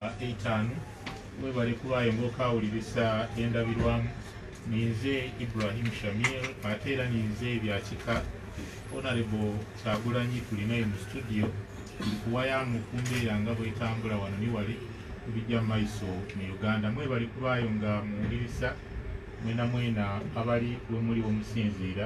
etaano webale kubaayo ngaokawulirisa endabirwamu ninze ibrahim shamir ate era ninze ebyakika onarebo kyagulanyi tulinaye mu studio kuwayamu kumbeera nga bwetambula wano niwali kubijja mumaiso mu uganda mwebali kubaayo nga muwulirisa mwena mwena abali wemuli womusinziira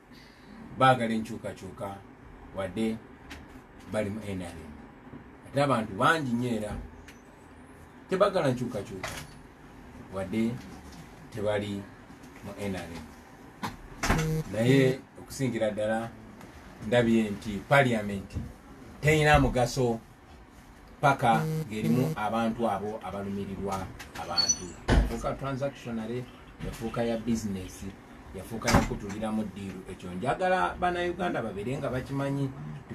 baagala enkyukakyuka wadde bali mu nrm ate abantu bangi nyo era tebagala nkyukakyuka wadde tebali mu nrm naye okusingira ddala ndabye nti paliamenti terina mugaso paka ng'erimu abantu abo abalumirirwa abantu yafuuka transactionary yafuuka ya bizinesi yafuuka yakutuliramu ddiiru ekyo njagala banauganda babeere nga bakimanyi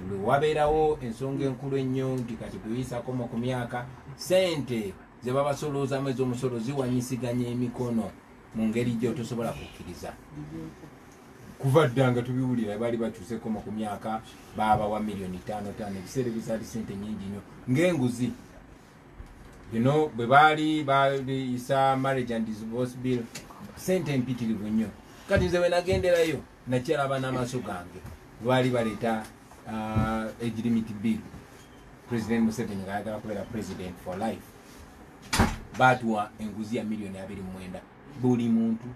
lwe wabeerawo ensonga enkulu ennyo nti kati kuyisakomo ku myaka sente ze babasoloozamu ez'omusolo ziwanyisiganya emikono mu ngeri gyotosobola kukkiriza kuva dda nga tubiwulira baali bakyusekoma ku myaka baabawa miliyoni tano tano ebiseera ebizaali sente nyingi nyo ngaenguzi bino bwe baali bayisa marriage and divorce bill sente empitirivu nnyo kati nze wenagenderayo nakyalaba n'amaaso gange lwali baleeta uh, age limit bill president museveni nga ayagala kubeera president for life baatuwa enguzi ya miliyoni abiri mumwenda buli muntu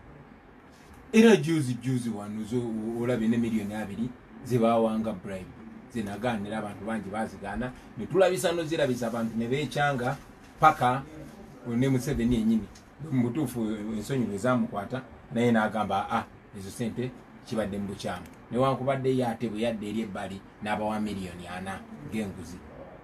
era juzi juzi wanuzo olabye ne miliyoni abiri zebawanga bribe zinagaanira abantu bangi bazigaana netulabisa nozirabisa abantu nebekyanga paka ne museveni enyini mubutuufu ensonyi lwezamukwata naye nagamba a ah, ezo sente kibadde mubukyamu newankubadde ye ate bweyadde eri ebbali n'abawa miliyoni ana ng'enguzi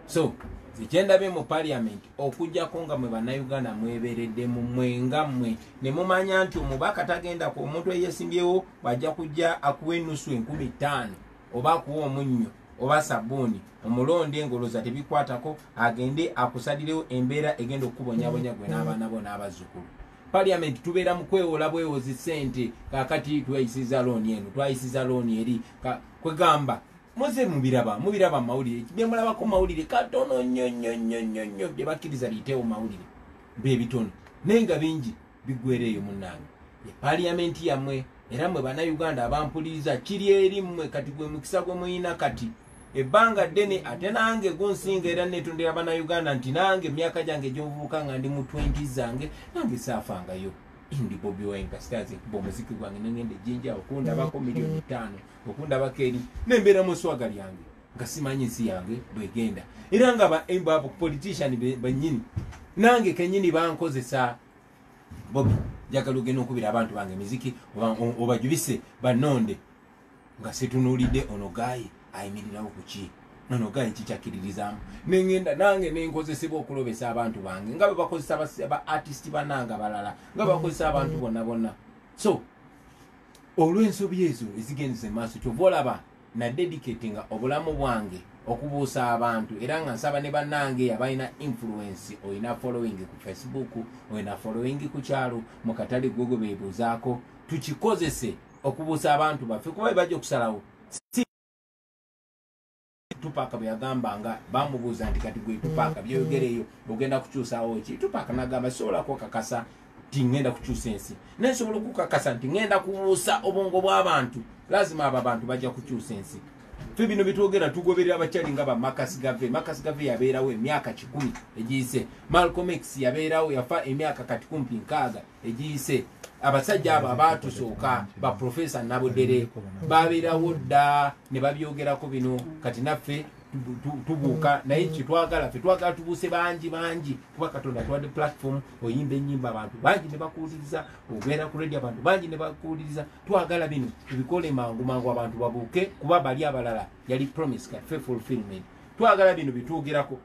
so nze kyendabye mu parliament okujjako nga mwe bannayuganda mweberedde mu mwenga mmwe ne mumanya nti omubaka tagenda ku omuntu eyesimbyewo bw'ajja kujja akuwa enusu enkumi ttaano oba akuwa omunnyo oba sabbuuni omulonde engoloza tebikwatako agende akusalirewo embeera egenda okukubonyabonya gwe n'abaana bo n'abazzukulu parliament tubeera mu kwewola bwewozi sente kakati twayisiza looni eno twayisiza looni eri kwegamba muze mubiraba mubiraba mawulire byemulabako mawulire katono nnyo nnyo nnyo nnyo nnyo byebakkiriza liyiteewo mawulire bebitono naye nga bingi bigwera eyo munnange e parliament yammwe era mwe bannayuganda abampuliriza kiri eri mmwe kati gwe mukisa gwe muyina kati ebbanga ddene ate nange gunsinga era netondera banauganda nti nange emyaka gyange egyomuvubuka nga ndi mu 20 zange nange saafangayo ndi bobi wine kasitazi nkuba omuziki gwange nengenda ejinja okundabako miliyoni ttaano okundabako eri nembeera mu swaga lyange nga simanyi nsi yange bwegenda era nga bapolitician banyini nange kenyini bankozesa bobi njagala ogenda okubira abantu bange emiziki obajubise banonde nga situnulidde ono gaayi ayimirirawo ku ki nono gaayi kikyakkiririzaamu ne ŋŋenda nange ne nkozesebwa okulobesa abantu bange nga bwe bakozesa ba artisiti bananga balala nga bakozesa abantu bonna bonna so olw'ensobi ezo ezigendeza emaaso kyova olaba nadedikate nga obulamu bwange okubuusa abantu era nga nsaba ne bannange abalina influensi olina following ku facebook olina following ku kyalo mu katale gwogo beebuuzaako tukikozese okubuusa abantu baffe kuba bebajja okusalawo tupaaka bwe yagamba nga bamubuuza nti kati gwe tupaaka byoyogereyo ogenda kukyusawo ki tupaaka nagamba sisobola kukakasa nti ŋenda kukyusa ensi naye nsobola okukakasa nti ŋenda kubuusa obwongo bw'abantu lazima abo abantu bajja kukyusa ensi fe bino byetwogera tugoberera abakyali nga bamakasi gave makasi gave yabeerawo emyaka kikumi egiyise malcom x yabeerawo yafa emyaka kati kumpi nkaaga egiyise abasajja abo abaatusooka ba profesa nabudere babeerawo dda ne babyogerako bino kati naffe tubuuka naye kyetwagala fe twagala tubuuse bangi bangi kuba katonda tuwadde platform oyimba enyimba abantu bangi ne bakuwuliriza obeera ku radio abantu bangi ne bakuwuliriza twagala bino tubikole mangu mangu abantu babuuke kuba bali abalala yali promise kaffe fulfillment twagala bino bitwogerako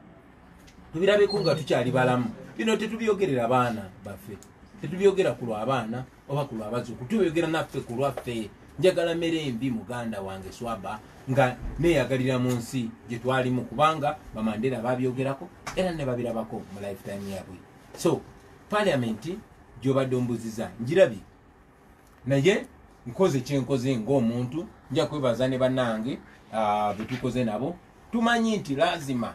tubirabeko nga tukyali balamu bino tetubyogerera baana baffe tetubyogera ku lwabaana oba ku lwabazuku tubyogera naffe ku lwaffe njagala mere embi muganda wange swaba nga neyagalira mu nsi gye twalimu kubanga bamandera babyogerako era ne babirabako mu lifetime yabwe so paliamenti gyobadde ombuziza njirabye naye nkoze kyenkoze ngaomuntu nja kwebaza ne banange ah, betukoze nabo tumanyi nti lazima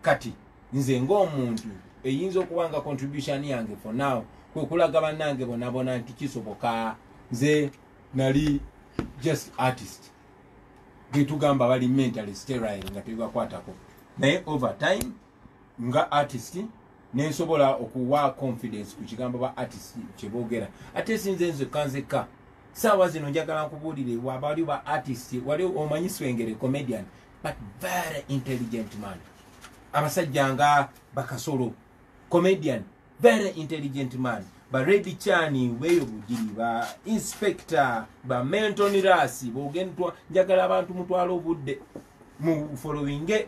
kati nze ngaomuntu eyinza okuba nga contribution yange for now kwekulaga banange bonabona nti kisoboka nze nali just artist getugamba bali mentally sterile nga tebibakwatako naye over time nga artist nensobola okuwa confidence ku kigambo ba artist kyebogera ate sinze nze kanzeka saawa zino njagala nkubuulire wabali ba artist wali omanyi swengere comedian but very intelligent man abasajja nga bakasolo comedian very intelligent man ba redi chani weyo bugiri ba inspector ba mentonirasi bogendwa njagala abantu mutwala obudde mu followinge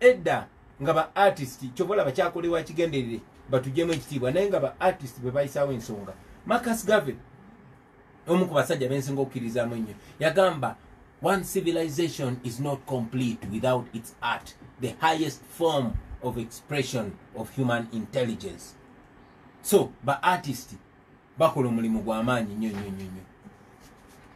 edda nga ba artist kyobola bakyakolewa kigenderere batujemu ekitiibwa naye nga ba artist bwe bayisawo ensonga Marcus Garvey omu ku basajja bensinga okukirizaamu ennyo yagamba one civilization is not complete without its art the highest form of expression of human intelligence so ba artist bakola omulimu gwamaanyi nyo nyo nyo nyo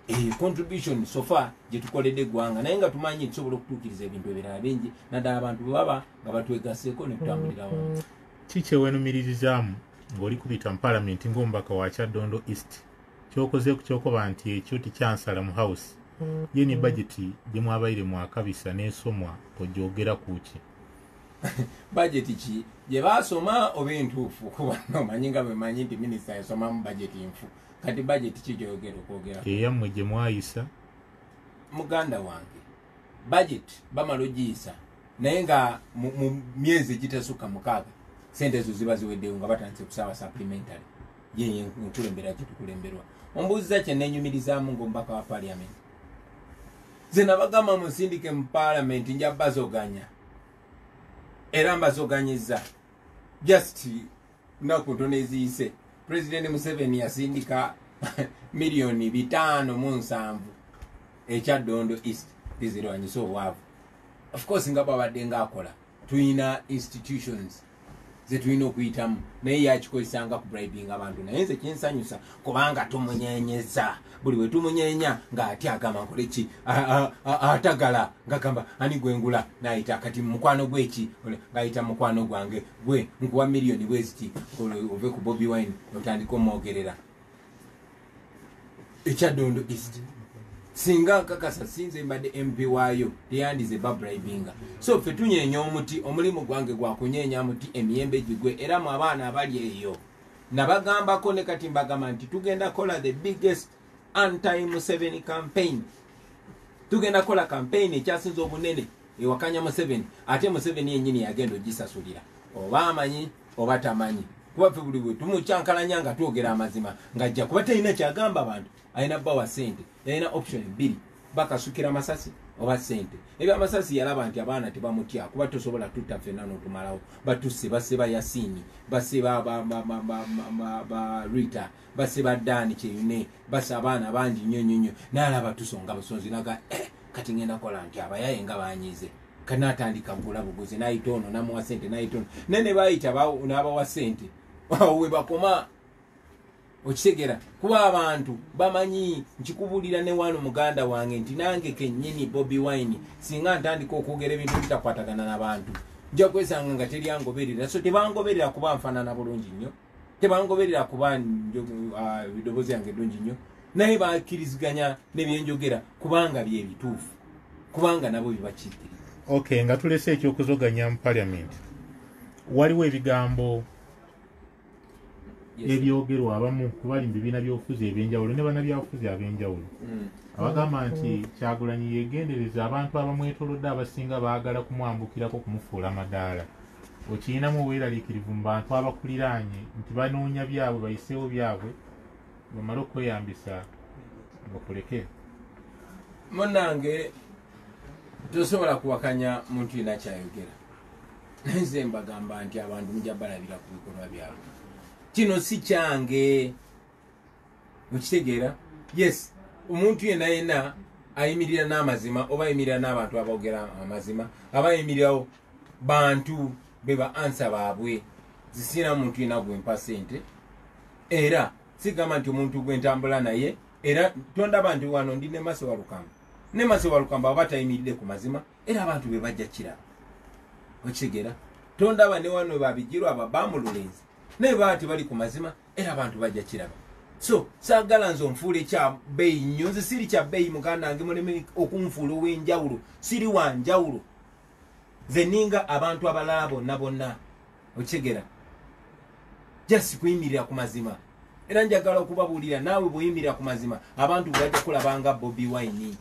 eyo eh, contribution sofa gyetukoledde eggwanga naye nga tumanyi tusobola okutuukiriza ebintu ebirala bingi naddala abantu bwebaba nga batwegaseeko netutambulira wamu mm. ki kyewenumiririzaamu ng'oli kubita mu palamenti ng'omubaka wa kyaddondo east kyokoze ku kyokoba nti ekyo tikyansala mu house mm. ye ne bajeti gye mwabaire mwakabisa n'esomwa ogyogera ku ki bajeti ki gye baasoma oba entuufu kuba nomanyi nga bwemanyi nti minisita yasomamu bajeti nfu kati bajeti ki gyoyogera okwogera eyammwe gye mwayisa muganda wange bajeti bamala ogiyisa naye nga mu myezi egitasukka mukaaga sente ezo ziba ziweddeyo nga batandise kusaba supplementary yeye nkulembera kyetukulemberwa ombuuziza kye nenyumirizaamu ngaomubaka wa parliament nze nabagamba munsindike mu paalamenti nja bazoganya era mbazoganyiza just naku ntono eziyise pulezidenti museveni yasindika miliyoni bitaano mu nsanvu ekya dondo east bizirwanyisa obwavu of course nga bwabadde ngaakola tulina institutions zetulina okuyitamu naye yakikozesa nga kubribinga abantu naye nze kinsanyusa kubanga tumunyenyeza buli we tumunyenya ng'ati agamba nkole ki atagala ngagamba ani gwengula nayita kati mukwano gweki ngayita mukwano gwange gwe nkuwa miliyoni bweziti ove ku bobi wine otandika omwogerera ekyadondo east singa nkakasa sinze mbadde mp waayo teyandize babribinga so fe tunyeenya omuti omulimu gwange gwakunyeenya muti emiyembe gigwe era mu abaana abali eyo nabagambako ne kati mbagamba nti tugenda kola the biggest anti museveni campaign tugenda kola campaign ekyasinza obunene ewakanya museveni ate museveni yenyini yagenda ogisasulira oba amanyi oba tamanyi kuba ffe buli bwe tumukyankalanya nga twogera amazima ng'ajja kuba talina kyagamba abantu alina bba wa ssente yalina option bbiri bakasukira amasasi oba ssente ebyo amasasi yalaba nti abaana tebamutya kuba tosobola tutta ffenna n'otumalawo batusse basse ba yasiini basse ba rita basse ba daani kyeyune basse abaana bangi nnyo nnyo nnyo naalaba tusonga busonzi naga eh, kati ngenda kola nti abayaye nga banyize kanatandika gula buguzi nayita ono namuwa sente nayita ono naye ne bayita n'abawa sente awo we bakoma okitegera kuba abantu bamanyi nkikubulira ne wano muganda wange nti nange kenyini bobi wine singa ntandika okwogera ebintu bitakwatagana nabantu nja kwesanga nga teryangoberera so tebangoberera kuba nfanana bulungi nnyo tebangoberera kuba ah, eddoboozi yange eddungi nnyo naye bakkiriziganya nebyenjogera kubanga byebituufu kubanga nabo bibakiikiriza ok nga tulese ekyokuzoganya mu parliament waliwo ebigambo ebyogerwa abamu kubali mu bibiina byobufuzi ebyenjawulo ne banabyabufuzi ab'enjawulo hmm. abagamba nti kyagulanyi yegendereza abantu abamwetolodde abasinga baagala kumwambukirako kumufuula madaala okiyinamu obweraliikirivu mu bantu abakuliraanye nti banoonya byabwe bayiseewo byabwe bamale okweyambisa bakuleke munange tosobola kuwakanya muntu yina kyayogera naye nze mbagamba nti abantu muja balabira ku bikolwa byabwe kino si kyange mukitegeera yes omuntu yena yena ayimirira n'amazima oba ayimirira n'abantu abogera amazima aba ayimirirawo bantu be ba ansa baabwe zisiina muntu yena gwempa sente era sigamba nti omuntu gwentambula naye era tondaba nti wano ndi ne maso walukamba ne maso walukamba aba tayimiridde ku mazima era abantu be bajja kiraba okitegeera tondaba ne wano babijirwa aba bamululenzi naye baba tebali ku mazima era abantu bajja kiraba so sagala nze onfuule kyabeeyi nnyo nze siri kyabeeyi muganda nge muleme okunfuula ow'enjawulo siri wa njawulo nze ninga abantu abalala bonna bonna okitegera just kuyimirira ku mazima era njagala okubabuulira naawe bweyimirira ku mazima abantu bwebajja kulabanga bobi wine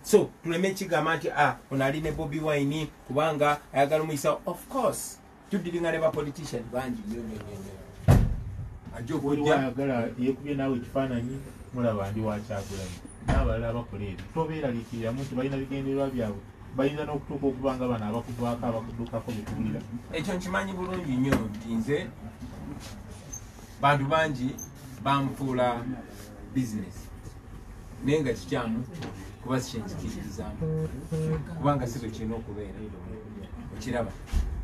so tuleme kigamba nti ah, onali ne bobi wine kubanga ayagala omuyisa of course tudiringa ne ba politician bangi nyo nyo nyo nyo ajja okujja ayagala yekubye naawe ekifaananyi mulaba ndi wakyagulanyi n'abalala abakola ebyo tobeeraliikiriramu nti balina bigendererwa byabwe bayinza n'okutuuka okuba nga bano abakuvaako abakuddukako betuwulira ekyo nkimanyi bulungi nnyo nti nze bantu bangi banfuula bizinesi naye nga kikyamu kuba sikyenjikiririzaamu kubanga si bwe kirina okubeera okiraba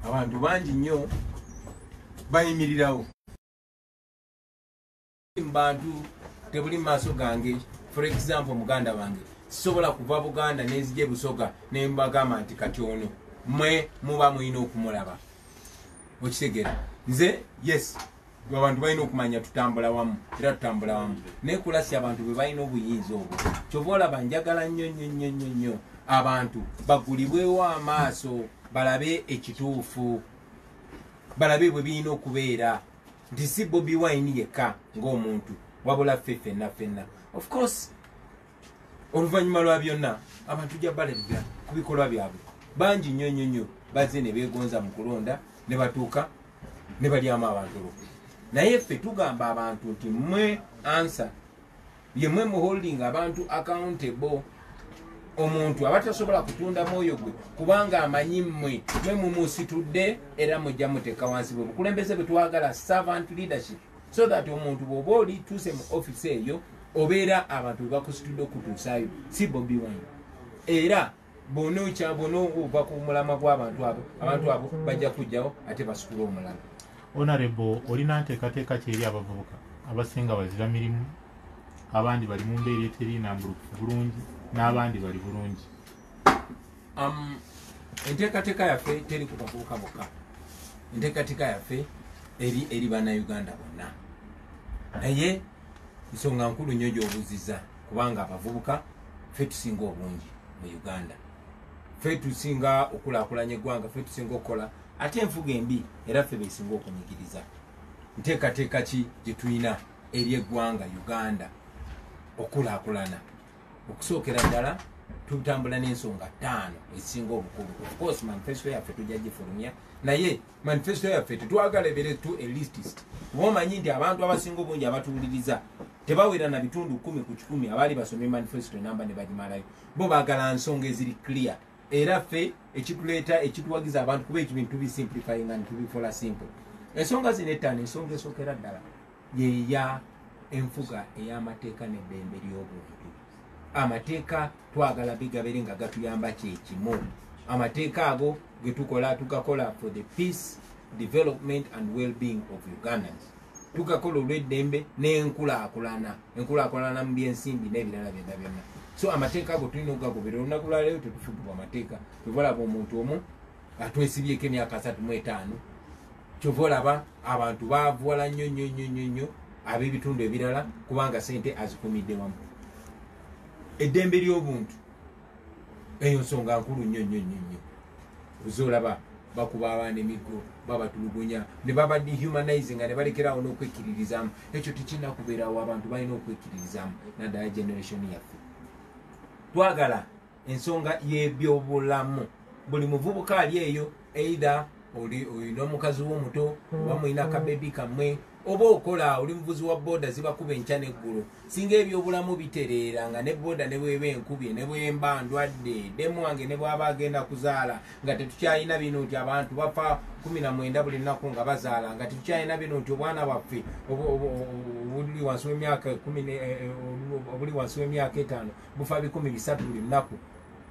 abantu bangi nnyo bayimirirawo mubantu tebuli mumaaso gange for example muganda wange sisobola kuva buganda nenzija ebusoga nembagamba nti kati ono mwe muba mulina okumulaba okitegera nze yes gwe abantu balina okumanya tutambula wamu era tutambula wamu naye kulasi abantu bwe balina obuyinza obwo kyova olaba njagala nnyo nnyo nnyo nnyo nnyo abantu bagulibwewo amaaso balabe ekituufu balabe bwe birina okubeera nti si bobi wine yekka ng'omuntu wabula ffe ffenna ffenna of course oluvannyuma lwa byonna abantu ja balabira ku bikolwa byabwe bangi nnyo nnyo nnyo bazze ne beegonza mu kulonda ne batuuka ne balyamu abantu olukwe naye ffe tugamba abantu nti mwe ansa yemwe muholding abantu accountable omuntu aba tasobola kutunda mwoyo gwe kubanga amanyi mmwe mwe mumusitudde era mujja muteeka wansi bwe bukulembeze bwe twagala servant leadership so that omuntu bwoba oli tuuse mu office eyo obeera abantu webakusitudde okutuusayo si bobi wine era bona okya bona ova ku mulama gw'abantu abo abantu abo bajja kujjawo ate basukula omulala onarebo olina nteekateeka kyeri abavubuka abasinga bazira mirimu abandi bali mu mbeera eteri nambulukufu bulungi n'abandi bali bulungi Um, enteekateeka yaffe teri ku bavubuka bokka enteekateeka yaffe eri eri bannayuganda bonna naye nsonga nkulu nnyo gy'obuziza kubanga abavubuka ffe tusinga obungi mu uganda ffe tusinga okulakulanya eggwanga ffe tusinga okukola ate enfuga embi era ffe besinga okunyigiriza nteekateeka ki gye tulina eri eggwanga uganda okulakulana okusookera ddala tutambula n'ensonga ttaano ezisinga obukulu ofcourse manifesto yaffe tujja gifulumya naye manifesto yaffe tetwagala ebere to elistist kuba omanyi nti abantu abasinga obungi abatuwuliriza tebawera na bitundu kumi ku kikumi abaali basomye manifesto enamba ne bagimalayo bo bagala nsonga eziri clear era ffe ekituleeta ekituwagiza abantu kuba ekibintu tubisimplifyinga nitubikola simple ensonga zino ettaano ensonga esookera ddala yeya enfuga ey'amateeka n'eddembe ly'obuntu amateeka twagala bigabere nga gatuyamba kyekimu amateeka ago getukola tugakola for the peace development and well-being of ugandans tugakola olw'eddembe n'enkulaakulana enkulaakulana mu by'ensimbi n'ebirala byonna byonna so amateeka ago tulina okugagobera olunaku lwaleero tetufugibwa amateeka tebalaba omuntu omu atwesibyeko emyaka asatu mu etaano kyova olaba abantu bavuwala nnyo nnyo nnyo nnyo nnyo ab'ebitundu ebirala kubanga sente azikumidde wamu eddembe ly'obuntu eyo nsonga nkulu nnyo nnyo nnyo nnyo oza olaba bakuba abaana emiggo babatulugunya ne baba dehumanizing nga ne balekerawo n'okwekkiririzaamu ekyo tekirina kubeerawo abantu balina okwekkiririzaamu naddala generation yaffe twagala ensonga y'ebyobulamu buli muvubuka ali eyo either olina omukazi wo omuto oba mm. mulina kabebi kamwe oba okola oli muvuzi wa boda zibakuba enkya neggulu singa ebyobulamu bitereera nga ne boda nebweba enkubye nebwemba ndwadde demu wange nebwaba agenda kuzaala nga tetukyalina bino nti abantu bafa kumi na mwenda buli nnaku nga bazaala nga tetukyalina bino nti obwana bwaffe obuli wansi wemyaka obuli wansi wemyaka etaano bufa bikumi bisatu buli lunaku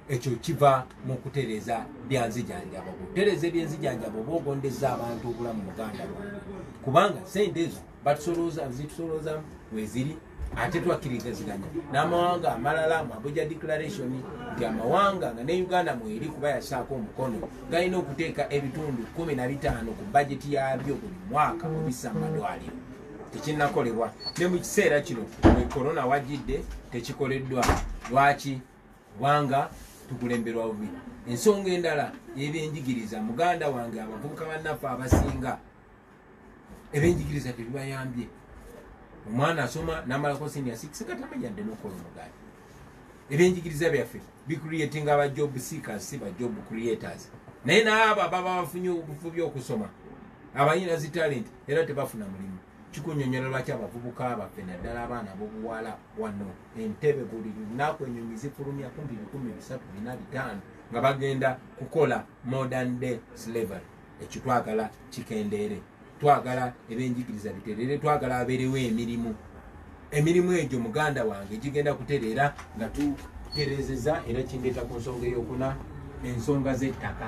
ekyo kiva mu kutereeza byanzijanjabo kutereeza ebyenzijanjabo oba ogondeza abantu obulamu muganda lwange kubanga sente ezo batusolooza zitusolooza weziri ate twakirizaziganya n'amawanga amalala mu abuja declaration nti amawanga nga ne uganda mweri kuba yasaako omukono galina okuteeka ebitundu kumi na bitaano ku bajeti yaabyo buli mwaka obissa mu madwaliro tekinnakolebwa ne mu kiseera kino e korona wajjidde tekikoleddwa lwaki kubanga tukulemberwa bubi ensonga endala ebyenjigiriza muganda wange abavubuka bannaffe abasinga ebyenjigiriza tebibayambye omwana asoma namalako sinia 6 nga tamanyadde nokukola omugaati ebyenjigiriza byaffe bicreating aba job seekers si ba job creators naye naabo ababa bafunye obufubi okusoma abayina zi talent era tebafuna mulimu kikunyonyola lwaki abavubuka baffe naddala abaana bobuwala wano entebe buli lunaku enyonyi zifulumya kumpi bikumi bisatu bina bitaano nga bagenda kukola modern day slavery ekitwagala kikendeere twagala ebyenjigiriza biterere twagala abeerewo emirimu emirimu egyo muganda wange gigenda kutereera nga tuterezeza era kindeeta ku nsonga eyokuna ensonga z'ettaka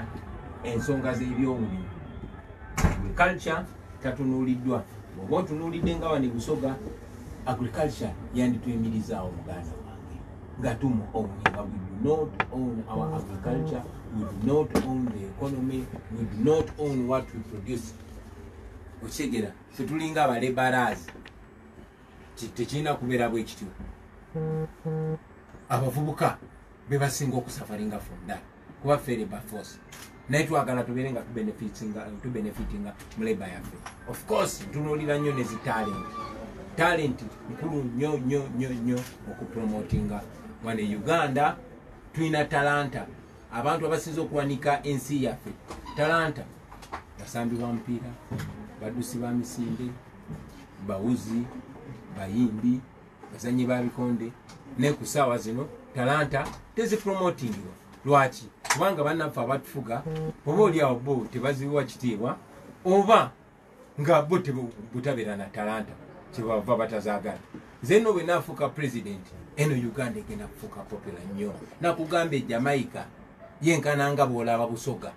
ensonga z'ebyobulimi agriculture tatunuuliddwa oba otunuulidde nga wani busoga agriculture yandituyimirizaawo muganda Gatumo Omunyika, we do not own our agriculture, we do not own the economy, we do not own what we produce. Okitegera, ffe tulinga abalebarazi, tekirina kubeera bwe kityo. Abavubuka be basinga okusafaringa from that. kuba ffe labor force naye twagala tubeere nga tubenefitinga mu labor yaffe of course ntunuulira nnyo ne zi talent talent nkulu nnyo nnyo nnyo nnyo okupromotinga wano e uganda tulina talanta abantu abasinza okuwanika ensi yaffe talanta basambi ba mupiira badusi ba misinde bawuzi bayimbi bazanyi ba bikonde naye ku saawa zino talanta tezipromotingirwa lwaki kubanga banaffe abatufuga oba oli awo bo tebaziwa kitiibwa oba nga bo butabeera na talanta kyebava batazagala zeno bwenafuuka president eno uganda egenda kufuuka popula nnyo nakugamba ejamaica yenkana nga bwolaba busoga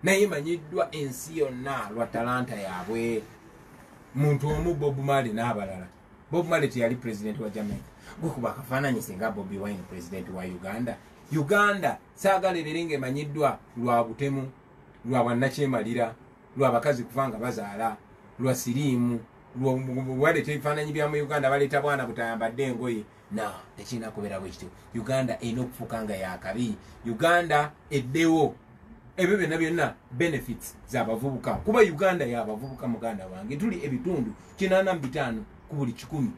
naye manyiddwa ensi yonna lwa talanta yaabwe muntu omu bob mali n'abalala bob male teyali president wa jamaica gwekuba akafaananyi singa bobi wine president wa uganda uganda saagala ebeere nga emanyiddwa lwa butemu lwa bwannakyemalira lwa bakazi kuva nga bazaala lwa siriimu waleeta ebifaananyi bya mu uganda baleeta bwana butayambadde engoye No tekirina kubeera bwe kityo. Uganda erina okufuuka nga yaakabi. Uganda eddewo. Ebyo byonna byonna benefits za bavubuka. Kuba Uganda ya bavubuka muganda wange. Tuli ebitundu kinaana mu bitaano ku buli kikumi.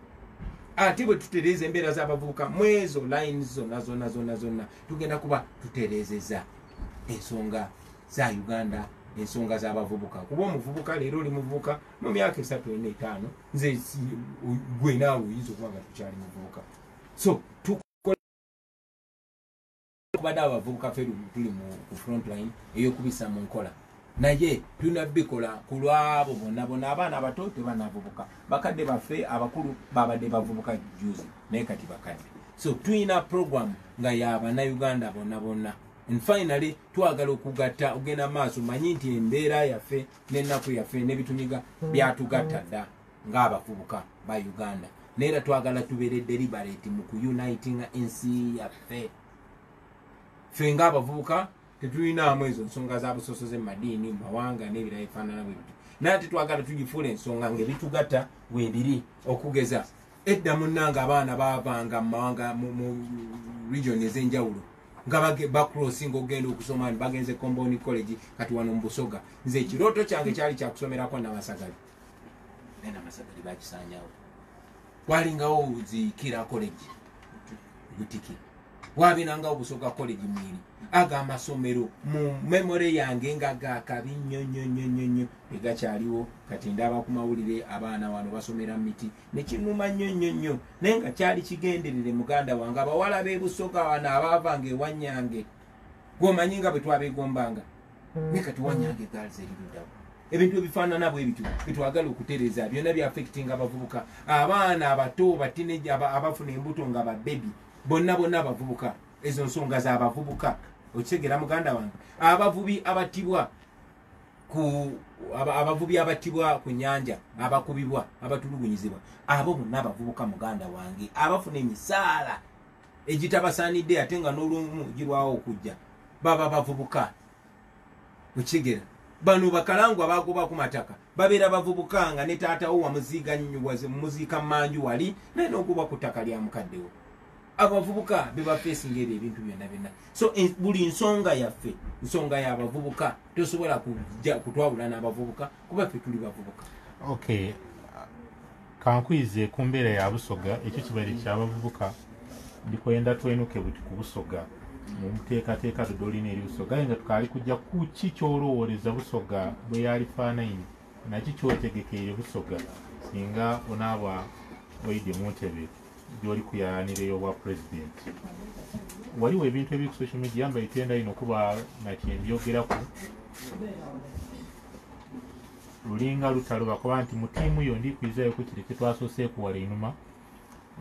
Ate bwe tutereeza embeera z'abavubuka mu ezo lines zonna zonna zonna zonna tugenda kuba tutereezeza ensonga za Uganda ensonga z'abavubuka. Kuba omuvubuka leero oli muvubuka. mu myaka esatu ena etaano nze gwe naawe oyinza okuba nga tukyali muvubuka so tukubadde abavubuka fe tuli mu ku frontline eyokubisa mu nkola naye tulina bikola ku lwabo bona bona abaana abato tebanavubuka bakadde baffe abakulu babadde bavubuka juzi naye kati bakadde so tulina program nga yabanauganda bona bona and finally twagala okugatta ogenda maaso manyi nti embeera yaffe n'ennaku yaffe nebitunyiga byatugatta dda ng'abavubuka ba uganda naye era twagala tubeere deliberate mu kuyunitinga ensi yaffe ffe ng'abavubuka tetulinaamu ezo nsonga za busosoze mu madiini mu mawanga n'ebirala ebifaanana bwe bityo naye ate twagala tugifuula ensonga ng'ebitugatta webiri okugeza edda munnange abaana baavanga mu mawanga mu region ez'enjawulo nga bacrossi nga okugenda okusoma ni bagenze comboni college kati wano mu busoga nze ekirooto kyange kyali kyakusomerako namasagali naye namasagali bakisanyawo walingawo zikira college butiki wabinangawo busoga college mwiri ago amasomero mu memore yange nga gakabi nnyo nnyo nnyo nnyo nnyo egakyaliwo kati ndaba ku mawulire abaana wano basomera mu miti nekinuma nnyo nnyo nnyo naye nga kyali kigenderere muganda wange abawala bebusoga wano abaavanga ewanyange gwomanyi nga bwetwabegombanga hmm. naye kati wanyange gals erirudawo ebintu ebifaanana bwe bityo byetwagala okutereza byonna byafekitinga abavubuka abaana abato batineja abafuna embuto nga babebi bonna bonna abavubuka ezo nsonga zabavubuka okitegera muganda wange abavubi abatibwa ku abavubi abattibwa ku nyanja abakubibwa abatulugunyizibwa abo bonna abavubuka muganda wange abafuna emisaala egitabasaanidde ate nga n'olumu girwawo okujja baba bavubuka okigera bano bakalangwa bagoba ku mataka babeera bavubuka nga ne taatawo wamuziiga nyuwaze mumuziika manju wali naye n'okuba ku ttaka lya mukaddewo abavubuka bebafesinga ebyo ebintu byonna byonna so buli nsonga yaffe nsonga yabavubuka tosobola kutwawula n'abavubuka kuba ffe tuli bavubuka okay kankuyize ku mbeera ya busoga ekyo kibaire kyabavubuka ndikwenda twenuke buti ku busoga mumuteekateeka dodolina eri busoga aye nga tukaali kujja kuki kyolowooleza busoga bwe yali faanaini naki kyotegekeire busoga singa onaaba oide muntebe gyoli kuyayanira eyobwa president waliwo ebintu ebiri ku social media yamba itenda ino kuba nakyembyogeraku lulinga lutalo bakuba nti mu tiimu yo ndikwizayo ku kiri kyetwasoose kuwala enuma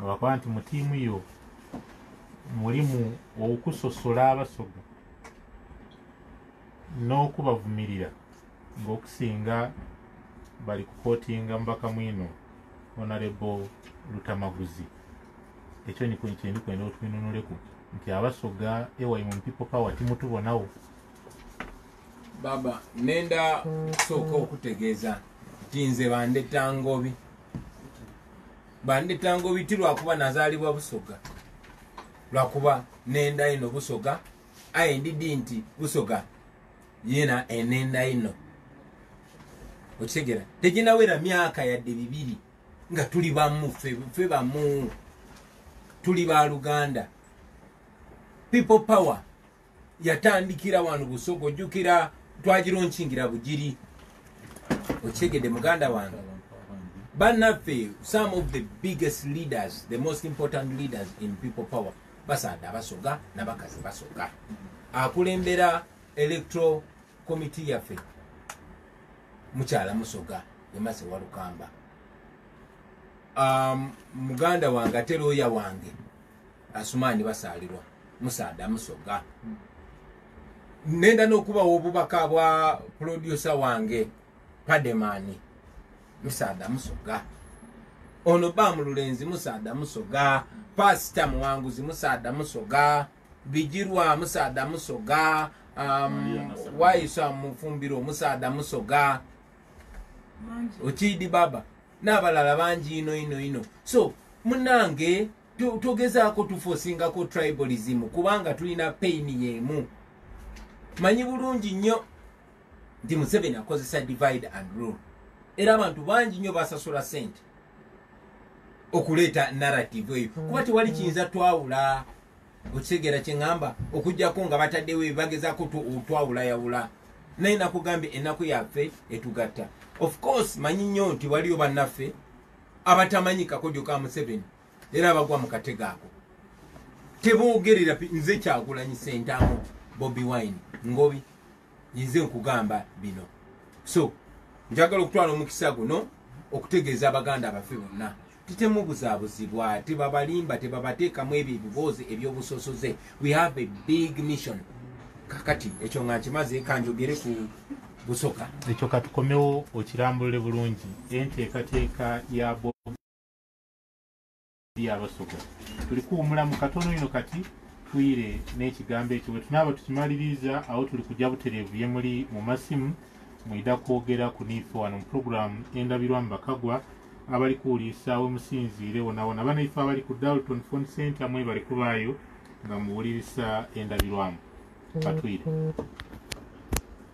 bakuba nti mu tiimu yo mulimu okusosola abasoga n'okubavumirira ng'okusinga bali kukotinga mubaka mwino onarebo lutamaguzi ekyo niko kyendi kwenda otwinunuleku nti abasoga ewayi mu people power timutubonawo baba nenda kusooka okutegeeza nti nze bandeta ngobi bandeta ngobi ti lwakuba nazaalibwa busoga lwakuba nenda ino busoga aye ndidi nti busoga yena enenda ino okitegera teginawera myaka yadde bibiri nga tuli bamu fe bamu tuli ba luganda people power yatandikira wano busogo ojjukira twagironkingira bugiri okitegedde muganda wange banaffe some of the biggest leaders the most important leaders in people power basaada basoga nabakazi basoga akulembera electoral committee yaffe mukyala musoga emase walukamba um, muganda wange ate looya wange asumaani basaalirwa musaada musoga hmm. nenda n'okubawo obubaka bwa pulodyusa wange pademaani musaada musoga ono bamululenzi musaada musoga pasita muwanguzi musaada musoga bijirwamu saada musoga um, wayisa mufumbiro omusaada musoga okiidi baba n'abalala bangi ino ino ino so munange togezaako tufosingako tribalism kubanga tulina paini yemu manyi bulungi nnyo nti museveni akozesa divide and rule era abantu bangi nnyo basasula sente okuleeta narrative eyo mm. kuba tewali kiyinza twawula okitegeera kyeŋamba okujjako nga bataddewo ebibagezako twawula yawula naye nakugambye ennaku yaffe etugatta of course manyi nnyo nti waliyo bannaffe abatamanyi kakodyo ka museveni era abagwa mu katego ako teboogerera nze kyagulanyi sentamu bobi wine ngobi yinze okugamba bino so njagala okutwala omukisa guno okutegeeza abaganda baffe bonna titemubuzabuzibwa tebabalimba tebabateekamu ebyo ebiboozi ebyobusosoze we have a big mission kakati ekyo nga nkimaze kanjogere ku busoka ekyo katukomewo okirambulule bulungi enteekateeka ya ya basoga tuli kuwumula mu katono ino kati tuyire n'ekigambo ekyo bwe tunaaba tukimaliriza awo tuli kujja butereevu ye muli mu masimu mwida kwogera ku niife wano mu pulogulaamu endabirwa mu bakagwa abali kuwuliisa we musinziire wonawona banaife abali ku dalton fon center mwebali kubaayo nga muwulirisa endabirwamu katwire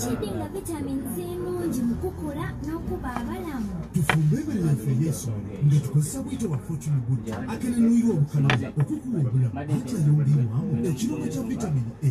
kidinga vitamin c nungi mu kukula n'okuba abalamu tufumbe ebere yaffe ey'ensonga nga tukozesa bwito bwa fortune good akenenuyirwa obukalamu okukuwa obulamu akyayongeibwamu ekirungo kya vitamin a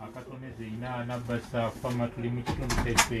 akatone zeinaana basa fama tuli mu kitundu kyaffe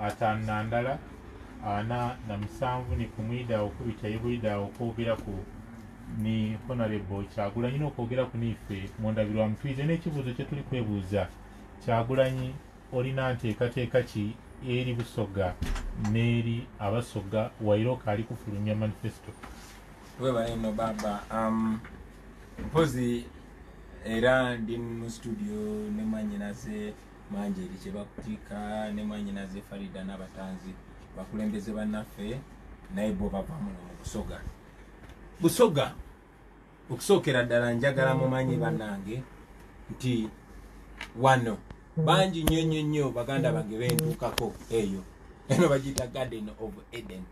ataano na ndala ana na musanvu ni kumwida okubita yebulida okwogera ku ni honorable kyagulanyi nokwogera ku niife mu ndabirwamu tuyize n'ekibuuzo kye tuli kwebuuza kyagulanyi olina nteekateeka ki eri busoga n'eri abasoga wairoka ali kufulumya manifesto webale no baba um, mpozi era ndi mu studio ne mwanyinaze Manjeri kyebakutika ne mwanyinaze Farida n'abatanzi bakulembeze bannaffe naye bo bava muno mu Busoga. Busoga okusookera ddala njagala mumanyi bannange nti wano bangi nnyo nnyo nnyo baganda bange bentuukako eyo eno bagiyita garden of Eden.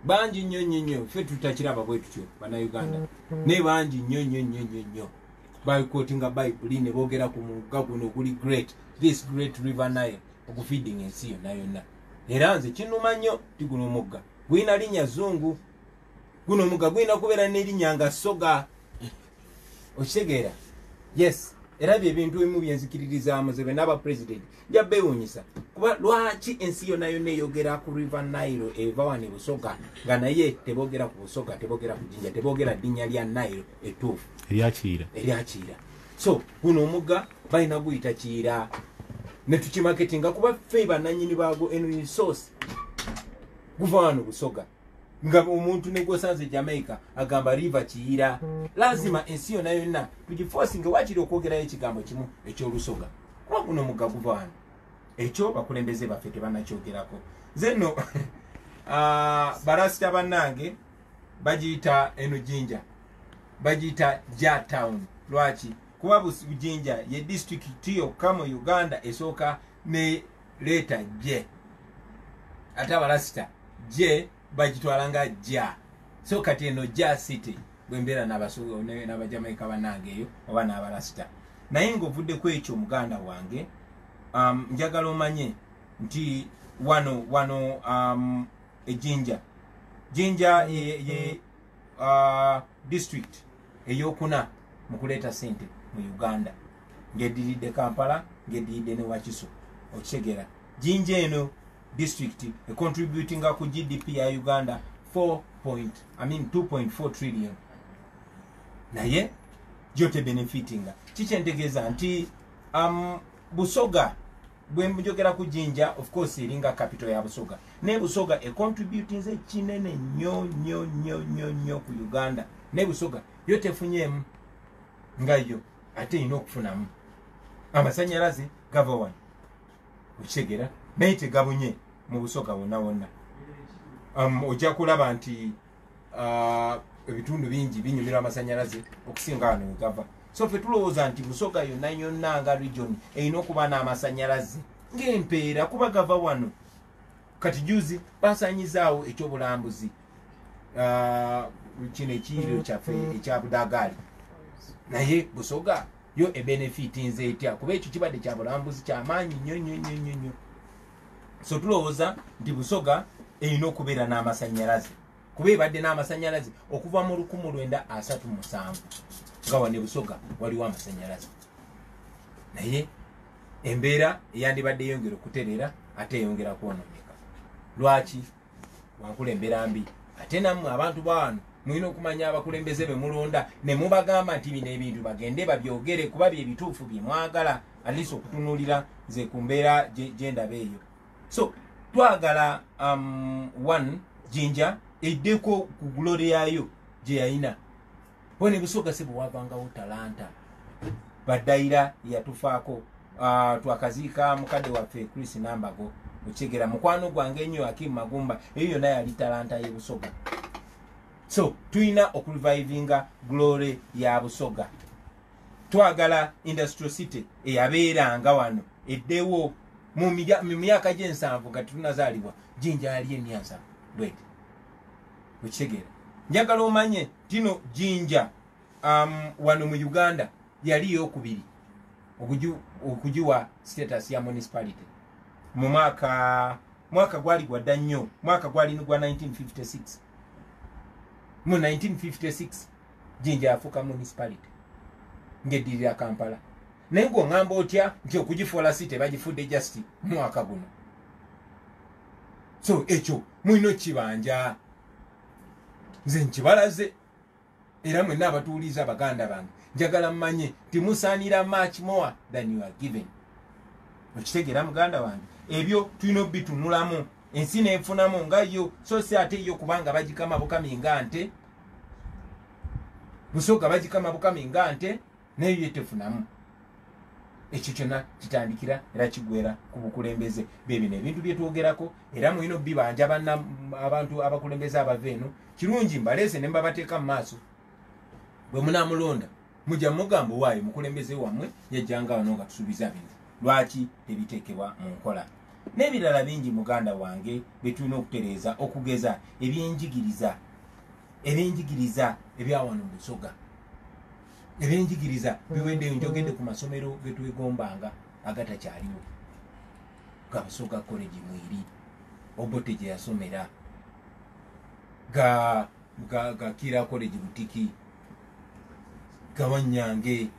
Bangi nnyo nnyo nnyo ffe tutakiraba bwe tutyo bannayuganda naye bangi nnyo nnyo nnyo nnyo nnyo. baikotinga bayibuli ne boogera ku mugga guno oguli great this great river nile ogufeeding ensi yonna yonna era nze kinuma nnyo ti guno omugga gulina linnya zungu guno omugga gulina kubeera n'erinnya nga soga okitegeera yes era byebintu ebimu byenzikiririzaamu ze bena aba president nja bewunyisa kuba lwaki ensi yona yona eyogera ku river nile eva wani busoga nga naye tebogera ku busoga tebogera ku jinja tebogera dinya lya nile etuufu eryakiira eryakiira so guno omuga balina guyita kiira netukimaketinga kuba fe bananyini bago eno resource guva wano busoga nga omuntu negwosanze jamaica agamba river kiira lazima ensi yona yona tugifosinge wakiri okwogerayo ekigambo kimu ekyolusoga kuba guno mugga guva wano ekyo bakulembeze baffe tebanakyogerako nze nno ah, balasita bannange bagiyita eno jinja bagiyita ja town lwaki kuba bujinja ye disitulikiti yokka mu uganda esooka ne leeta je ate abalasita je bagitwala nga ja so kati eno ja city bwembeera nabajamaika banange eyo oba nabalasita naye nga ovuddeko ekyo muganda wange um, njagala omanye nti wano wano um, ejinja jinja ye, ye uh, district eyokuna mukuleeta sente mu uganda ngediridde kampala ngediridde newakiso okitegeera jinja eno district e contributinga ku gdp ya uganda 4 point i mean 2.4 trillion naye gyote benefitinga kikyentegeeza nti um, busoga bwenjogera ku jinja of course eringa capital ya busoga naye busoga e contributinze kinene nyo nyo nyo nyo nyo ku uganda naye busoga yo tefunyeemu nga yo ate erina okufunamu amasanyalaze gava wano okitegera naye tegabunye mu busoga wonna wonna um, ojja kulaba nti uh, ebitundu bingi binyumirwa amasanyalaze okusinga wano wegava so fe tulowooza nti busoga yonna yonna nga region erina okuba n'amasanyalaze ng'empeera kuba gava wano kati juzi basanyizaawo ekyobulambuzi uh, kino ekiyiriro kyaffe ekyabudagaali naye busoga yo ebenefiti nze etya kuba ekyo kibadde kya bulambuzi kyamaanyi nnyo nnyo nnyo nnyo nnyo so tulowooza nti busoga erina okubeera n'amasannyalaze kuba ebadde n'amasannyalaze okuva mu lukumu lwenda asatu musanvu nga wane busoga waliwo amasannyalaze naye embeera eyandibadde eyongera okutereera ate eyongera kwonooneka lwaki wakulembera mbi ate namwe abantu bawano mulina okumanya abakulembeze be mulonda ne mubagamba nti bino ebintu bagende babyogere kuba bye bituufu bye mwagala alisi okutunuulira nze ku mbeera gye ndaba eyo so twagala um, one jinja eddeko ku glory yayo gye yayina bona ebusoga sebo wavangawo talanta badayira yatufaako ah, twakaziika mukadde waffe chris nambago okyegera mukwano gwange enyo akim magumba eyo yona yali talanta yebusoga so tulina okurevivinga glory ya busoga twagala industrial city eyabeeranga wano eddewo mu myaka gyensanvu nga tetunazaalibwa jinja yali emyansa bwete okitegeera njagala omanye Tino Jinja um, wano mu Uganda yali yokubiri okugiwa status ya municipality mu mwaka mwaka gwali gwadda nnyo mwaka gwali nigwa 1956 mu 1956 jinja yafuuka municipality ngeddirira kampala naye ngaoŋamba otya nti okugifuula si tebagifudde just mwaka guno so ekyo mulina okukibanja nze nkibalaze era mwenna abatuuliza baganda bange njagala mmanye timusaanira much more than you are given okitegeera muganda wange ebyo tulina obitunulamu ensi nenfunamu nga yo so si ate yo kubanga bagikama bukami nga nte busoga bagikama bukami nga nte naye ye tefunamu ekyo kyonna kitandikira era kigwera ku bukulembeze bebino ebintu byetwogerako era mulina obibanja bana abantu abakulembeze abava eno kirungi mbaleese ne mbabateeka mu maaso bwe munamulonda mujja mugamba owaayo mukulembeze wammwe yajjanga wano nga tusuubiza bino lwaki tebiteekebwa mu nkola n'ebirala bingi muganda wange byetulina okutereeza okugeza ebyenjigiriza ebyenjigiriza ebyawano musoga ebyenjigiriza biweddeyo njogedde ku masomero getwegombanga agatakyaliwo ga busoga college mwiri obote gye yasomera ga ga kira college butiki gawanyange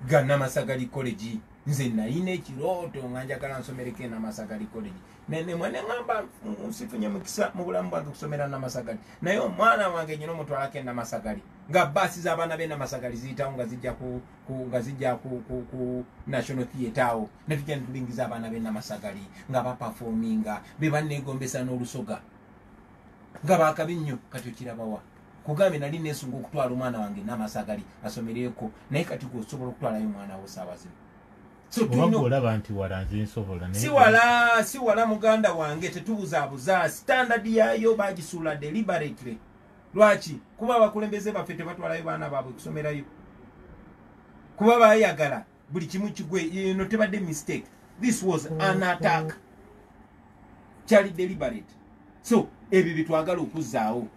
ga namasagali college nze nalina ekirooto nga njagala nsomereko enamasagali college nemweneamba nsifunye mukisa mu bulamu bwange okusomera namasagali naye omwana wange nyina omutwalako enamasagali nga baasi z'abaana be namasagali ziyitawo nga zijja ku nga zijja ku ku ku national theatre awo ne tujja ne tulingiza abaana be namasagali nga bapafominga be banneegombesa n'olusoga nga baakabi nnyo kati okirabawa kugambye nali nesunga okutwala omwana wange namasagali asomereeko naye kati gwe osobola okutwalayo omwana wo saawa zino olaba nti wala nze nsobola siwala siwala muganda wange tetubuzaabuza standard yaayo bagisuula deliberately lwaki kuba abakulembeze baffe tebatwalayo baana baabwe kusomerayo kuba bayagala buli kimu kigwe eno tebadde mistake this was an attack kyali deliberate so ebyo byetwagala okuzaawo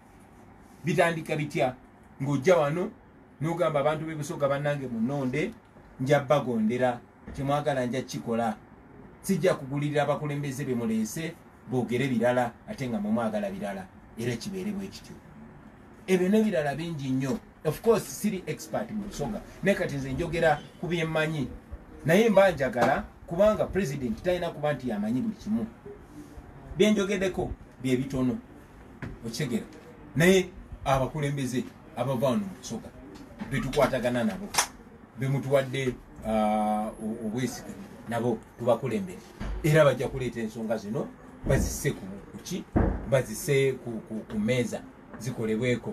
bitandika bitya ng'ojja wano nogamba abantu bebusoga banange munonde nja bagondera kyemwagala nja kikola sijja kugulirira abakulembeze bemuleese bogere birala ate nga mwemwagala birala era kibeere bwekityo ebyo nebirala bingi nnyo ofcourse siri expert mu busoga naye kati nze njogera ku byemmanyi naye mba njagala kubanga president talina kuba nti yamanyi buli kimu byenjogedeko byebitono okitegera naye abakulembeze abava wano mukusoka betukwatagana nabo bemutuwadde uh, obwesige nabo tubakulembere era bajja kuleeta ensonga zino bazise kuki bazise ku meeza zikolebweko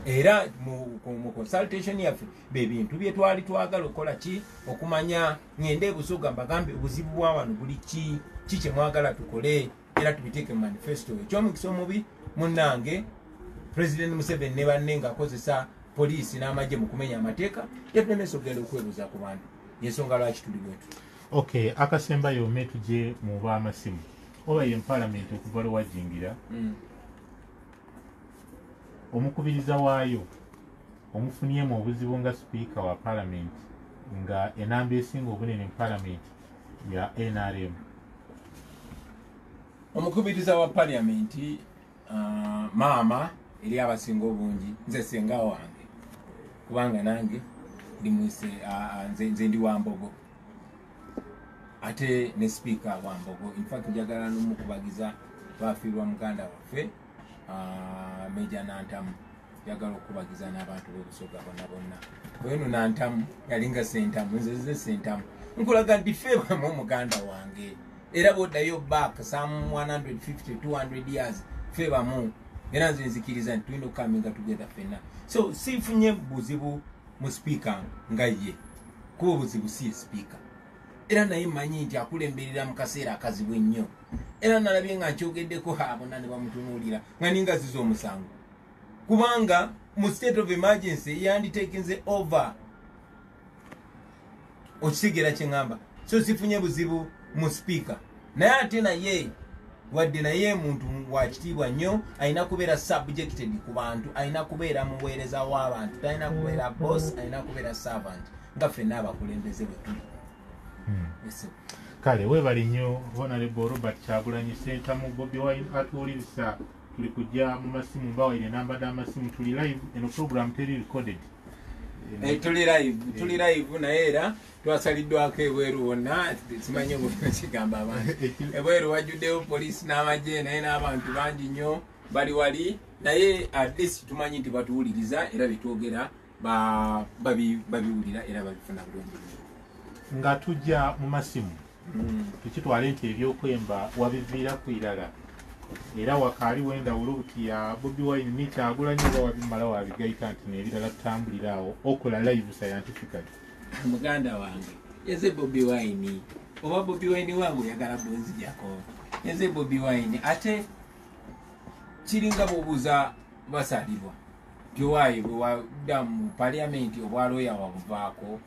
era mu consultation yaffe bebintu byetwali twagala okukola ki okumanya ngende ebusoga mbagambe obuzibu bwa wano buli ki ki kyemwagala tukole era tubiteeke mu manifesto ekyomukisa omubi munange president museveni ne banne ngaakozesa poliisi n'amagye mu kumenya amateeka yatulemesa okugenda okwebuuza ku bantu yensonga lwaki tuli bwetu ok akasembayo ome tugye mu baamasimu oba ye mpalamenti okuva lwe wajingira mm. omukubiriza waayo omufunyemu obuzibu nga sipiika wa palamenti nga enamba esinga obunene mu palamenti ya nrm omukubiriza wa paliamenti uh, maama eri abasinga obungi nze senga wange kubanga nange ndimwise uh, uh, nze, nze ndi wambogo ate ne sipiika wambogo infact njagala nomukubagiza bafiirwa muganda waffe ah, meja nantamu yagala okukubagiza n'abantu b'obusoga bonna bonna oyeno nantamu yalinga sentamu nzeze sentamu nkulaga nti fe bamu omuganda wange era bwoddayo back some 150 200 years fe bamu era nze nzikiriza nti tulina okukaminga tugeza fenna so sifunye buzibu mu sipiika nga ye kuba obuzibu si ye sipiika era naye manyi nti akulemberera mu kaseera akazibu ennyo era nalabye nga akyogeddeko abona ne bamutunuulira nga ninga ziza omusango kubanga mu state of emergency yanditekinze over okisigera kyeŋamba so sifunye buzibu mu sipiika naye ate naye wadde naye muntu wakitiibwa nnyo alina kubeera subjected ku bantu alina kubeera muweereza w'abantu talina kubeera boss alina kubeera servant nga ffenna abakulembeze bwetuli kale webale nnyo honorable robert kyagulanyi sentamu bobi wine atuwuliriza tuli kujja mu masimu mbawaire enamba d'amasimu tuli live eno program teri recorded Eh, tuli live tuli eh. live naye era twasaliddwako ebweru wonna simanyi obukinakigamba abantu ebweru wajjuddeyo poliisi n'amagye naye n'abantu bangi nnyo bali wali naye atleast tumanyi nti batuwuliriza era betwogera babiwulira era babifuna bulungi nga tujja mu masimu hmm. tukitwale nti ebyokwemba wabiviira ku irala era wakaali wendawulo buti ya bobi wine nikyagula nyoba wabimala wabigaita nti nebirala tutambulira awo okola live scientifically muganda wange eze bobi wine oba bobi wine wange oyagala bwenzijako eze bobi wine ate kiringa bobuza basalibwa Joy bwe wadda mu parliament obwa lawyer wabuvaako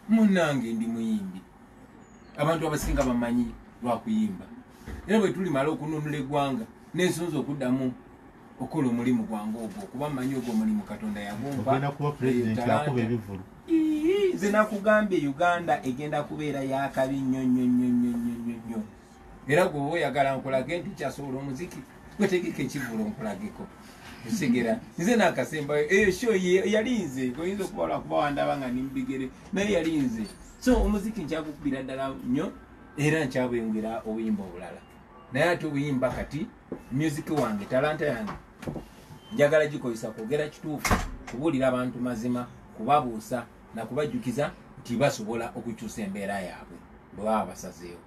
munange ndi muyimbi abantu abasinga bamanyi lwakuyimba era bwe tulimala okununula eggwanga nensonza okuddamu okukola omulimu gwange ogwo kuba manyi ogwo omulimu katonda yagunze nakugambye uganda egenda kubeera yakabi nnyo nnyo nnyo nnyo nnyo nnyo era gwe oyagala nkulage nti kyasobola omuziki gwetegeka ekivulu nkulageko ekigera nze nakasembayo eyo sho yali nze oyinza okuba lwakuba wandaba nga nimbigere naye yali nze so omuziki nkyagukubira ddala nnyo era nkyabweyongera obuyimba obulala naye ate obuyimba kati music wange talanta yange njagala gikozesa kwogera kituufu kubuulira abantu mazima kubabuusa nakubajjukiza nti basobola okukyusa embeera yaabwe bwe baba basazeewo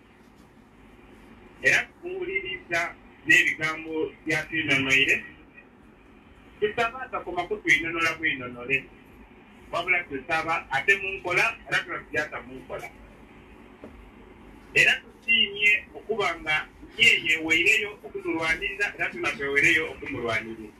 era tukuwuliriza n'ebigambo bya twinonoire tusaba atakoma kutwinonola bwinonole wabula tusaba ate munkola era tulakujasa munkola era tusiimye okuba nga yeyeeweireyo okutulwanirira era tunakwewereyo okumulwanirira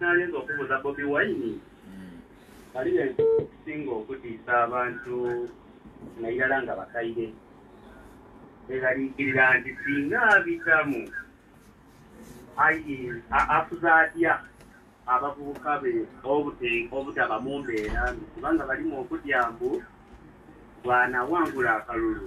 Nalinza okubuuza Bobi Wine bali besinga okutiisa abantu nairala nga bakaire beeraliikirira nti singa abitamu afuza atya abavubuka be obutaba mu mbeera mbi kubanga balimu okutya mbu bwanawangula akalulu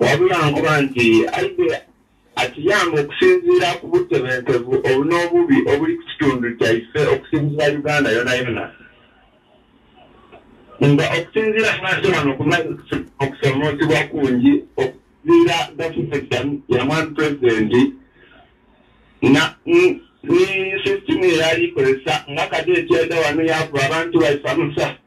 wabula nkuba nti aidde akiyamba okusinziira ku butebenkevu obu n'obubi obuli ku kitundu kyaife okusinziira uganda yona yona nga okusinziira abantu bano kumaze okusomoozebwa kungi okusinziira gavumenti yamwami pulezidenti ne sisitimu eyali ikozesa nga kati ekyeda wano yakuba abantu baife amusafu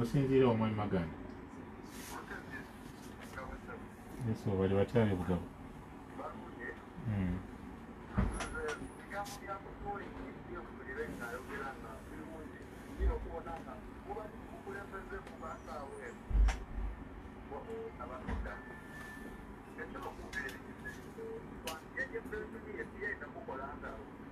osinziira omwami maganda yesu bali batyali bugabo hmm.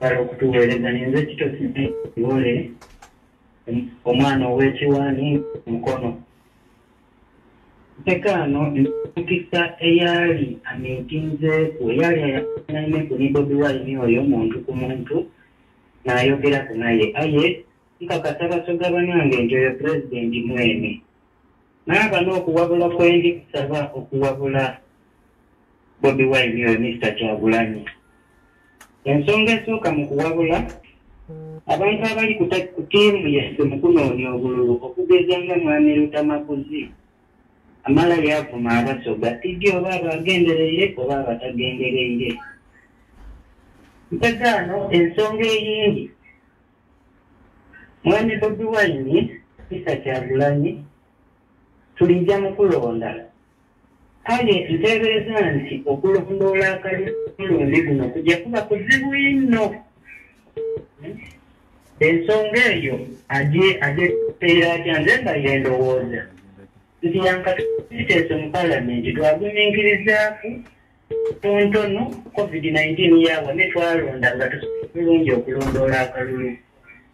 bala okutuweereza ninze kitosi wole omwana ow'ekiwaani mukono ntekaano emukisa eyaali amiitinzeeku eyaali ayanaine ku ni bobi wine oyo muntu ku muntu n'ayogeraku naye aye nkakasa basoga banange nti oyo pulezidenti mwene naaba n'okuwabula kwendi kusaba okuwabula Bobi Wine oyo Mister Kyagulanyi. Ensonga esooka mu kuwabula abantu abali ku ttiimu yaffe mu kunoonya obululu okugeza nga Mwami Lutamaguzi amala yavuma abasoga tigi oba abagendereire oba abatagendereire. Ntegaano ensonga eyindi Mwami Bobi Wine Mister Kyagulanyi tulijja mu kulonda. Kale nteebereza nti okulondoola akalulu omulundi guno kujja kuba kuzibu inno. Ensonga eyo agye agye kuteera atya nze mba ye ndowooza nti yankatuteese mu palamenti twaguminkirizaako tontono covid nineteen yawa ne twalonda nga tusobola bulungi okulondoola akalulu.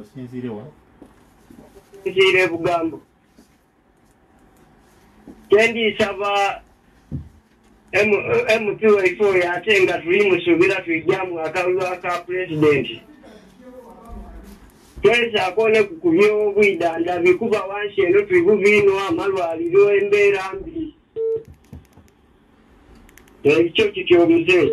osinziire wa nziire bugambo kyendiisaba mp waife oyo ate nga tuli musuubira tuijjamu akalulu aka pulezidenti twezaako ne ku kubyobwidandabi kuba wansi eno tuli bubiino amalwaliro embeera mbi ekyo kityo omuzeeyi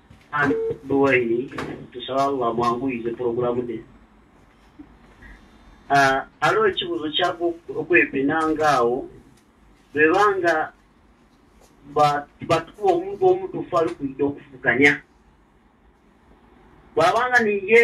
Duwaini tusaba Allah amwanguyize pulogulaamu de ah, aliwo ekibuuzo kyava okwepena ngaawo bweba nga batukuba omuntu omutuufu alikuida okuvuganya bwabanga niye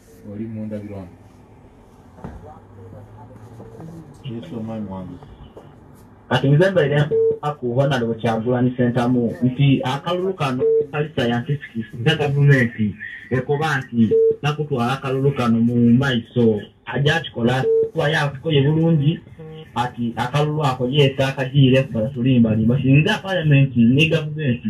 oli mundabirwamu yesu omwami wange kati nze mbeere akuba nali bukyagulani sentamu nti akalulu kano kali sayantisiki nze gavumenti ekoba nti nakutwala akalulu kano mu maiso aja akikola kuba yakukoye bulungi ati akalulu ako yeeta akajiire kubala tulimbalimba singa palamenti ne gavumenti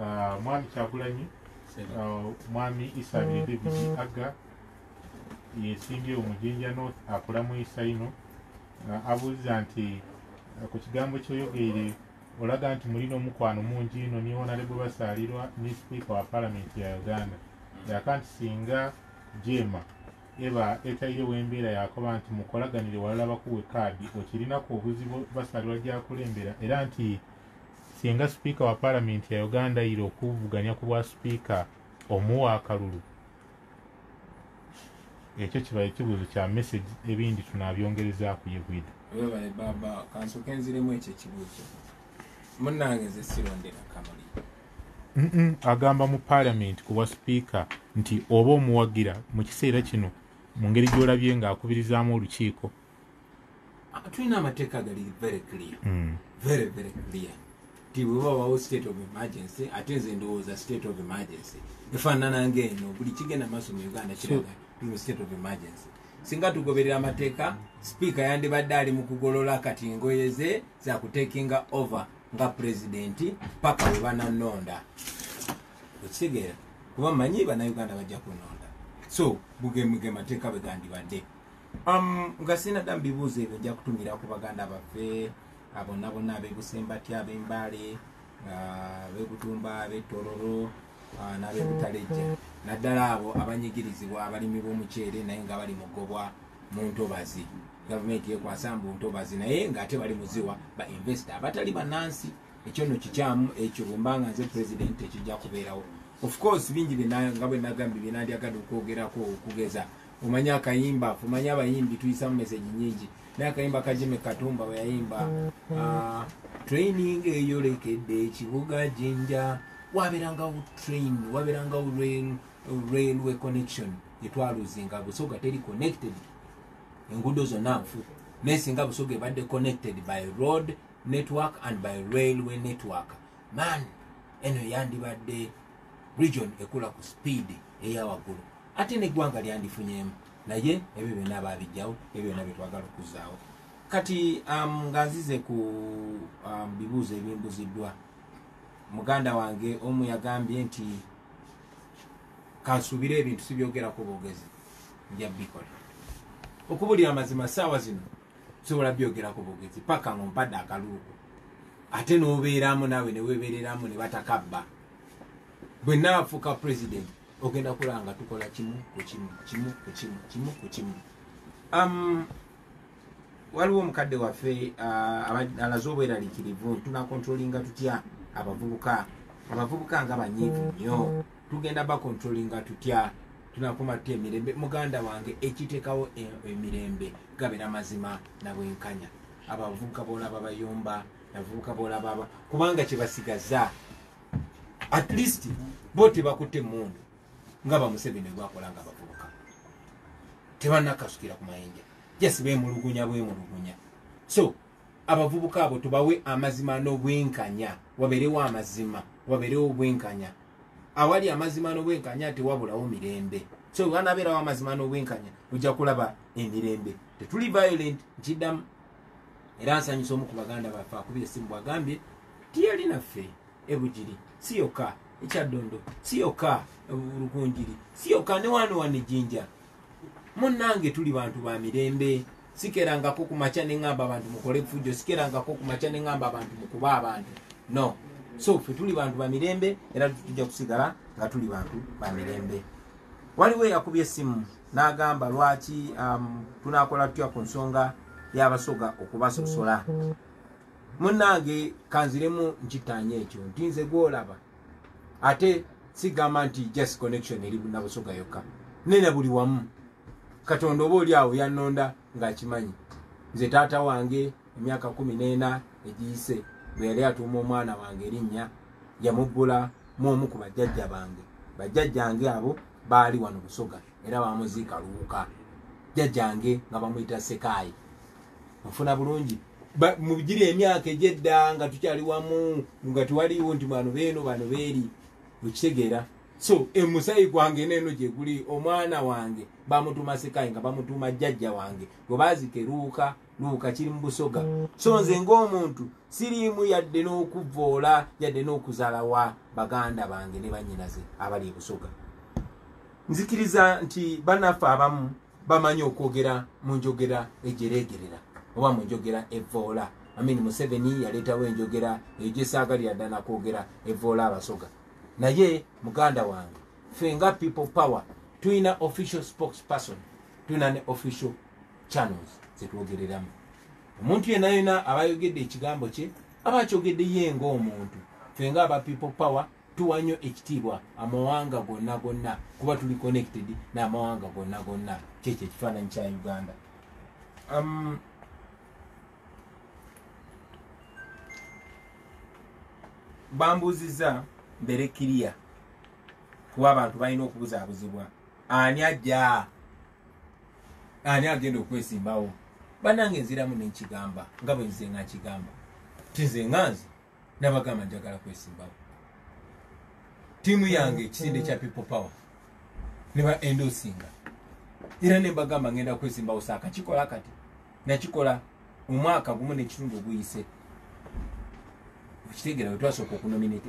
uh, mwami kyagulanyi uh, mwami isa mm-hmm. nedevidi agga yesimbye omujinja north akola mu isa ino uh, abuuza nti uh, ku kigambo kyoyogeire olaga nti mulina omukwano mungi ino niwonalebwe basaalirwa ne sipiika wa palamenti ya uganda mm. yaka nti singa jema eba etairewo embeera yakoba nti mukolaganire walala bakuwe kaadi okirinaku obuzibu basaalirwa gyakulembera era nti Singa Sipiika wa Palamenti ya Uganda ndayira okuvuganya ku bwa Sipiika omuwa akalulu ekyo kiba ekibuzo kya message ebindi tunabyongereza ku yegwida webale baba kansoke nziremu ekyo ekibuzo munange nze sirondera kamuli agamba mu palamenti ku bwa sipiika nti oba omuwagira mu kiseera kino mu ngeri gy'olabye ng'akubirizaamu olukiiko ah, tulina amateeka agali very clear mm. very very clear ti bwebawawo state of emergency ate nze ndowooza state of emergency efaanana ngaeno buli kigenda maaso mu uganda kiraga tuli mu state of emergency singa tugoberera amateeka sipiika yandibadde ali mu kugolola kati engoye ze zakutekinga over nga pulezidenti paka we bananonda okitegeera kuba manyi banauganda bajja kunonda so bugemuge mateeka bwegandibadde Um, nga sina dda mubibuuzo ebyo nja kutumira ku baganda baffe bonna bonna abebusembatya abembaale abebutumba abetororo nabebutalejja naddala abo abanyigirizibwa abalimi b'omuceere naye nga bali mugobwa mu ntobazi gavumenti yekwasa mbu ntobazi naye ngaate bali muziwa ba investa abatali banansi ekyo no kikyamu ekyo bwembanga nze president ekijja kubeerawo of course bingi nga bwenagambye byenandyagadde okwogerako okugeza omanyi akayimba omanyi abayimbi tuyisamu meseji nyingi naye akayimba kajime katumba weyayimba mm-hmm. ah, training eyolekedde ekibuga jinja waberangawo train waberangawo railway connection etwaluzinga busoga teri connected enguudo zonna nfu naye singa busoga ebadde connected by road network and by railway network man eno yandibadde region ekula ku speed eyawaggulu ate neggwanga lyandifunyemu naye ebyo byona babijjawo ebyo byona byetwagala okuzaawo kati um, nga nzize ku um, bibuuzo ebimbuziddwa muganda wange omu yagambye nti kansubire ebintu sibyogerako bogezi nja bikola okubulira amazima saawa zino sobola byogerako bogezi paka nga ompadde akaluuko ate nobeeramu naawe newebereramu nebatakabba bwenaafuka president ogenda kulaba nga tukola kimu ku kimu kimu ku kimu kimu ku kimu um, waliwo omukadde waffe uh, alaze obweralikirivu tunakontrolinga tutya abavubuka abavubuka nga banyiivu nnyo tugenda bakontrolinga tutya tunakuma tutya emirembe muganda wange ekiteekawo e, emirembe gabera mazima nabwenkanya abavubuka boolaba bayomba abavubuka boolaba kubanga kyebasigaza at least bo tebakutte mundu nga bamuseveni gwakola nga bavubuka tebanakasukira ku mayinja just bemulugunya bwemulugunya so abavubuka abo tubawe amazima n'obwenkanya waberewo amazima waberewo obwenkanya awali amazima n'obwenkanya tewabulawo mirembe so wanabeerawo amazima n'obwenkanya ojja kulaba emirembe tetuli violent nkiddamu era nsanyusa omu ku baganda baffe akubye essimu bwagambye ti yali naffe ebugiri si yokka ekyaddondo si yokka lukunjiri si yokka ne wano wano ejjinja munnange tuli bantu ba mirembe sikerangako ku makya ne ŋŋamba abantu mukole fujjo sikerangako ku makya ne ŋŋamba abantu mukuba abantu no so ffe tuli bantu ba mirembe era tujja kusigala nga tuli bantu ba mirembe waliwo eyakubye essimu n'agamba lwaki um, tunakola tutya ku nsonga y'abasoga okubasosola munnange kanziremu nkitanya ekyo nti nze gwolaba ate sigamba nti just connection eri nabusoga yokka nena buli wamu katonda oba oli awo yannonda ng'akimanyi nze taata wange emyaka kumi n'ena egiyise bwe yali atuuma omwana wange erinnya yamubbula mu omu ku bajjajja bange bajjajjange abo baali wano busoga era bamuziika luwuka jjajjange nga bamuyita sekaayi nfuna bulungi mu giri emyaka egyedda nga tukyali wamu nga tewaliwo nti bano beeno bano beeri okitegeera so emusayi gwange neeno gye guli omwana wange bamutuuma sekaayi nga bamutuuma jjajja wange gwe baazika eruwuka luuka kiri mu busoga so nze ng'omuntu siriimu yadde n'okuvoola yadde n'okuzalawa baganda bange ne bannyinaze abali ebusoga nzikiriza nti banaffe abamu bamanyi okwogera mu njogera ejereegerera oba mu njogera evoola amini museveni yaleetawo enjogera eyo gyesaagalira ddana kwogera evoola abasoga naye muganda wange ffe nga people power tulina official spokesperson tulina ne official channels zetwogereramu omuntu yena yena abayogedde ekigambo kye aba akyogedde ye nga omuntu fe nga aba people power tuwa nnyo ekitiibwa amawanga gonna gonna kuba tuli connected n'amawanga gonna gonna kyekyo ekifaananyi kya uganda um, bambuuziza mbere kiriya kuba abantu balina okubuzaabuzibwa ani ajja ani agenda okwesimbawo banange nziramu nenkigamba nga bwe nze nga nkigamba tinze nga nze nabagamba njagala kwesimbawo tiimu yange ekisinde kya people power ne ba endosinga era ne mbagamba ngenda kwesimbawo saaka kikola kati nakikola omwaka gumu nekitundu oguyise okitegera wetwasooka okunominate